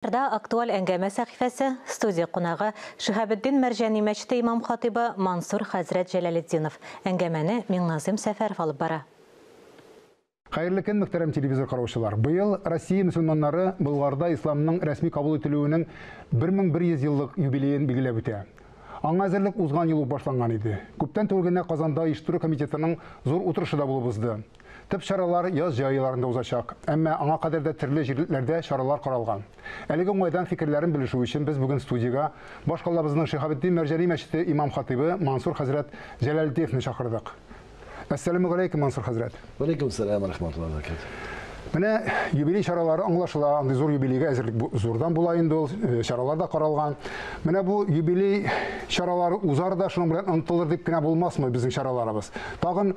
Рда актуаль әңгәмә сәхифәсе, студия кунагы, Шиһабетдин Мәрҗани мәчете имам-хатыйбы Мансур хәзрәт Җәләлетдинов. Әңгәмәне Миңназыйм Сәфәров алып бара. Хәерле көн, мөхтәрәм телевизор караучылар! Быел Россия мөселманнары Болгарда исламның рәсми кабул ителүенең 1100 еллык юбилеен билгеләп үтә. Аңа әзерлек узган ел ук башланган иде. Күптән түгел генә Казанда оештыру комитетының зур утырышы да булып узды. Төп чаралар яз җәй айларында узачак, әмма аңа кадәр дә төрле җирлекләрдә чаралар каралган. Әлеге уңайдан фикерләрен белешү өчен без бүген студиягә баш калабызның Шиһабетдин Мәрҗани мәчете имам-хатыйбы Мансур хәзрәт Җәләлетдиевны чакырдык. Әссәламүгаләйкем, Мансур хәзрәт! Вәләйкем сәлам, вә рахмәтуллаһи вә бәрәкәтүһ! Менә юбилей чаралары аңлашыла, андый зур юбилейга әзерлек зурдан була инде ул, э, чаралар да каралган. Менә бу юбилей чаралары узар да шуның белән онытылыр дип кенә булмасмы безнең чараларыбыз? Тагын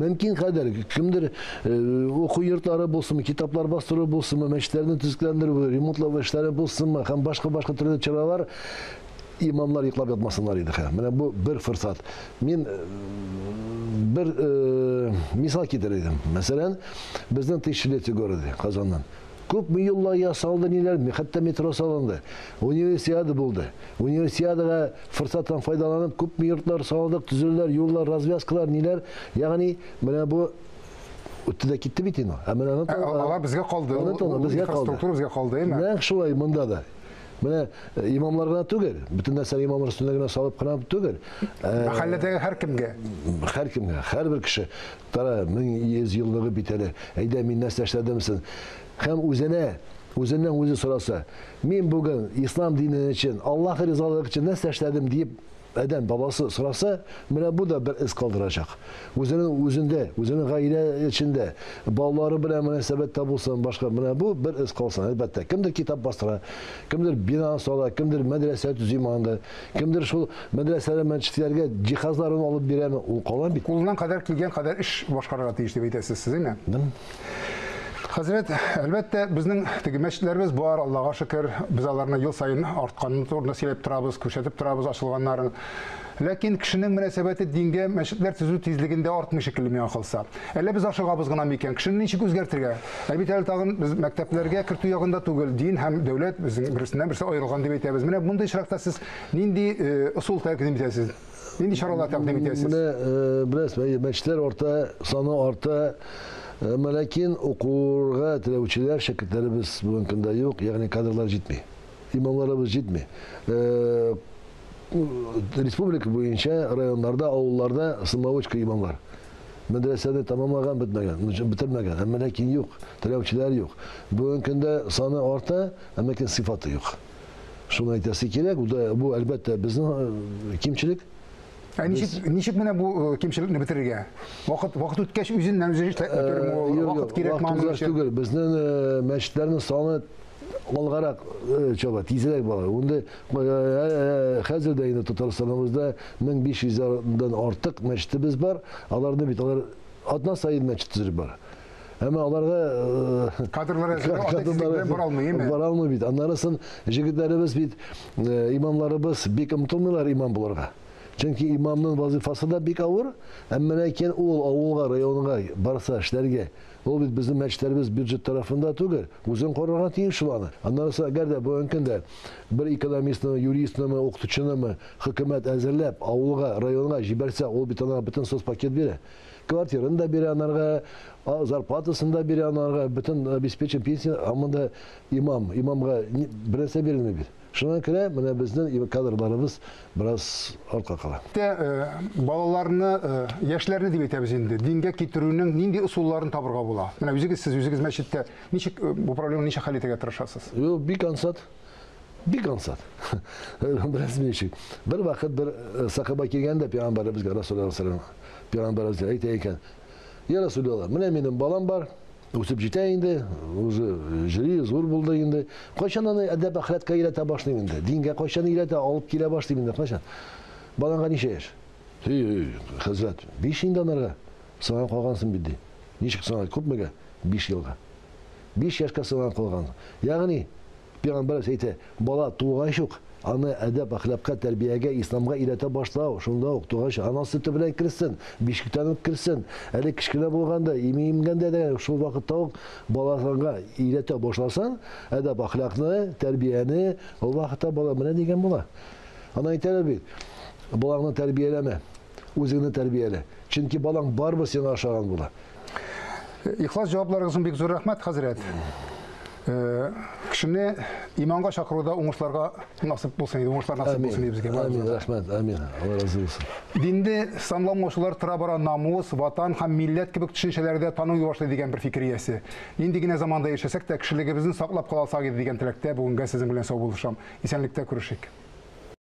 Мөмкин кадәр, кемдер уку йортлары булсынмы, китаплар бастыру булсынмы, мәчетләрне төзекләндерү, ремонтлау эшләре булсынмы һәм башка-башка төрле чаралар имамлар йоклап ятмасыннар иде. Хә, менә бу бер форсат. Мин э, бер э, мисал китерер идем. Мәсәлән, безнең тысячелетие городе Казаннан. Күпме юллар ясалды, ниләр, хәтта метро салынды. Универсиада булды. Универсиадага форсаттан файдаланып, күпме йортлар салдык, төзеләләр, юллар, развязкалар, ниләр. Ягъни, менә бу үтте дә китте бит инде. Ә менә аны Алар безгә калды. Аны тона безгә калды. Инфраструктура безгә калды, әйме? Нәкъ шулай монда да. Менә э, имамлар гына түгел, бөтен нәрсәне имамлар өстенә генә салып кына түгел. Мәхәлләдәге һәркемгә. Һәркемгә, һәрбер кеше. Кара, мең йөз еллыгы бит әле, әйдә, мин нәрсә эшләдем сон? Һәм үзенә, үзеннән үзе сораса, Мин бүген ислам дине өчен, Аллаһ ризалыгы өчен нәрсә эшләдем? диеп адәм баласы сораса, менә бу да бер эз калдырачак. Үзенең үзендә, үзенең гаилә эчендә, балалары белән мөнәсәбәттә булсын, башка, менә бу бер эз калсын, әлбәттә. Кемдер китап бастыра, кемдер бина сала, кемдер мәдрәсә төзи монда, Кемдер шул мәдрәсәләр, мәчетләргә җиһазларын алып бирәме? Ул кала бит. Кулыннан кадәр килгән кадәр эш башкарырга тиеш дип әйтәсез сез, әйме? Дым. Хәзрәт, әлбәттә, безнең теге мәчетләребез бар, Аллага шөкер. Без аларны ел саен артканын турында сөйләп торабыз, күрсәтеп торабыз ачылганнарын. Ләкин кешенең мөнәсәбәте дингә мәчетләр төзү тизлегендә артмый шикелле миңа калса. Әллә без ашыгабыз гына микән? Кешене ничек үзгәртергә? Ә бит әле тагын без мәктәпләргә кертү ягында түгел, дин һәм дәүләт безнең берсеннән берсе аерылган дип әйтәбез. Менә мондый очракта сез нинди ысул тәкъдим итәсез? Нинди чаралар тәкъдим итәсез? Менә беләсез, әйе, мәчетләр арта, саны арта. Әмма ләкин укырга теләүчеләр, шәкертләребез бүгенге көндә юк, ягъни кадрлар җитми. Имамларыбыз җитми республика буенча районнарда, авылларда самоучка имамлар. Мәдрәсәне тәмамлаган бетмәгән, бетермәгән, әмма ләкин юк, теләүчеләр юк. Бүгенге көндә саны арта, әмма ләкин сыйфаты юк. Шуны әйтәсе кирәк, бу да бу әлбәттә безнең кимчелек. Ә ничек ничек менә бу кимчелекне бетерергә? Вакыт вакыт үткәч үзеннән үзе эшләп бетерме? Вакыт кирәкме аның өчен? Түгел, безнең мәчетләрнең саны алгарак э, чаба, тизрәк бара. Унда э, э, хәзер дә инде Татарстаныбызда 1500 дан артык мәчетебез бар. Аларны бит алар атна сайын мәчет төзелеп бара. Әмма аларга кадрлар әзерләп бара алмый, әйме? Бара алмый бит. Аннарысын җегетләребез бит имамларыбыз бик омтылмыйлар имам буларга. Чөнки имамның вазифасы да бик авыр, әмма ләкин ул авылга, районга барса эшләргә Ул бит безнең мәчетләребез бюджет тарафында түгел, үзең карарга тиеш шул аны. Аннарысы әгәр дә бүгенге көндә бер экономистнымы, юристнымы, укытучынымы хөкүмәт әзерләп, авылга, районга җибәрсә, ул бит анарга бөтен соцпакет бирә. Квартираны да бирә анарга, зарплатасын да бирә анарга, бөтен обеспечен пенсия, ә монда имам, имамга бернәрсә бирелми бит. Шуңа күрә менә безнең кадрларыбыз бераз артка кала. Тә э, балаларны, э, яшьләрне дип әйтәбез инде, дингә китерүнең нинди ысулларын табырга була? Менә үзегез сез үзегез мәчеттә ничек э, бу проблеманы ничек хәл итәргә тырышасыз? Юк, бик ансат. Бик ансат. Бераз ничек. Бер вакыт бер э, сахаба килгәндә пәйгамбәребезгә Расулуллаһ саллаллаһу алейһи ва саллям пәйгамбәребезгә әйтә икән: "Я Расулуллаһ, менә минем балам бар, Үсеп җитә инде, уже җыри, зур булды инде. Кайчан аны әдәп әхлакка өйрәтә башлыйм инде? Дингә кайчан өйрәтә, алып килә башлыйм инде, кайчан? Баланга ничә яшь? Һи, хәзрәт, биш инде анарга. Сыңа калгансын бит, ди. Ничек сыңа, күпмегә? Биш елга. Биш яшькә сыңа калган. Ягъни, Пәйгамбәребез әйтә, бала тугач ук, аны әдәп-әхлакка, тәрбиягә, исламга өйрәтә башлау, шунда ук тугач ана сөте белән керсен, бишектән үк керсен, әле кечкенә булганда, имиемгәндә дә шул вакытта ук баласынга өйрәтә башласаң, әдәп-әхлакны, тәрбияне, ул вакытта бала менә дигән була. Аны әйтәләр бит, балаңны тәрбияләмә. Үзеңне тәрбиялә. Чөнки балаң барыбер сиңа ошаган була. Ихлас җавапларыгыз өчен бик зур рәхмәт, хәзрәт. Э, кешене иманга чакыруда уңышларга насып булсын иде, уңышлар насып булсын иде безгә. Амин, рәхмәт, амин. Алла разы булсын. Динде санламаучылар тора бара намус, ватан һәм милләт кебек төшенчәләрдә таный башлый дигән бер фикер иясе. Нинди генә заманда яшәсәк тә, кешелегебезне саклап каласак иде дигән теләктә бүгенгә сезнең белән сау булышам. Исәнлектә күрешик.